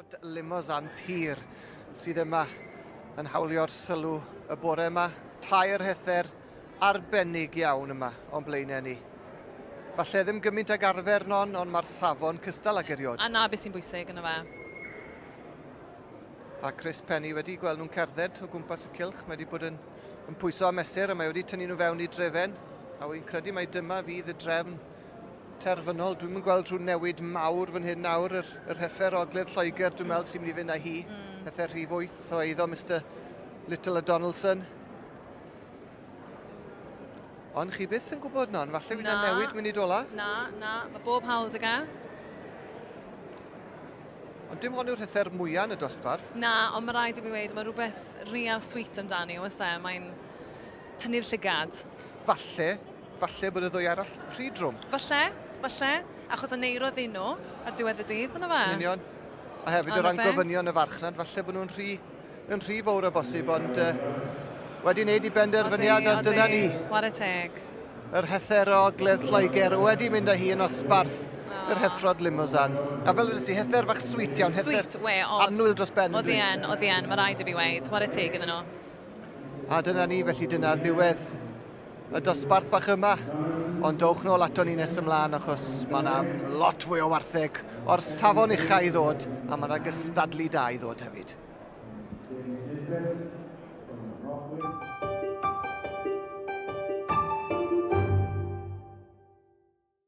Rod Limousin Pur sydd yma yn hawlio'r sylw y bore yma. Tair hether arbennig iawn yma o'n blaenau ni. Falle ddim gymaint ag arfer non, ond mae'r safon cystal ag eriod. A na beth sy'n bwysig yn y fe. A Chris Penny wedi gweld nhw'n cerdded o gwmpas y cilch. Mae wedi bod yn yn pwyso a mesur a mae wedi tynnu nhw fewn i drefen a wy'n credu mai dyma fydd y drefn terfynol. Dwi'm yn gweld rhyw newid mawr fan hyn nawr, yr, yr heffer ogledd Lloegr, dwi'n meddwl sy'n mynd i fynd â hi, mm. heffer rhif 8 o eiddo Mr Little a Donaldson. Ond chi byth yn gwybod non, falle fydd na newid munud ola. Na, na, mae bob hawl dy gael. Ond dim hon yw'r hyder mwyaf yn y dosbarth. Na, ond mae rhaid i mi wneud, mae rhywbeth real sweet amdani, oes e? Mae'n tynnu'r llygad. Falle, falle bod y ddwy arall rhy drwm. Falle, falle, achos y neiro ddyn nhw ar diwedd y dydd, yna fe? Yn union. A hefyd o ran gofynion y farchnad, falle bod nhw'n rhy Yn rhy fawr o bosib, ond uh, wedi wneud i benderfyniad, a dyna ni. Ware teg. Yr hether o gledd Lloegr wedi mynd â hi yn osbarth ah. yr heffrod limosan. A fel ydych chi, hether fach sweet iawn, hether sweet, we, anwyl dros ben. Oedd e'n, oedd e'n, mae rhaid i fi weid, ware teg iddyn nhw. A dyna ni, felly dyna ddiwedd y dosbarth bach yma, ond dowch nôl ato ni nes ymlaen achos mae yna lot fwy o wartheg o'r safon uchau i ddod a mae yna gystadlu da i ddod hefyd.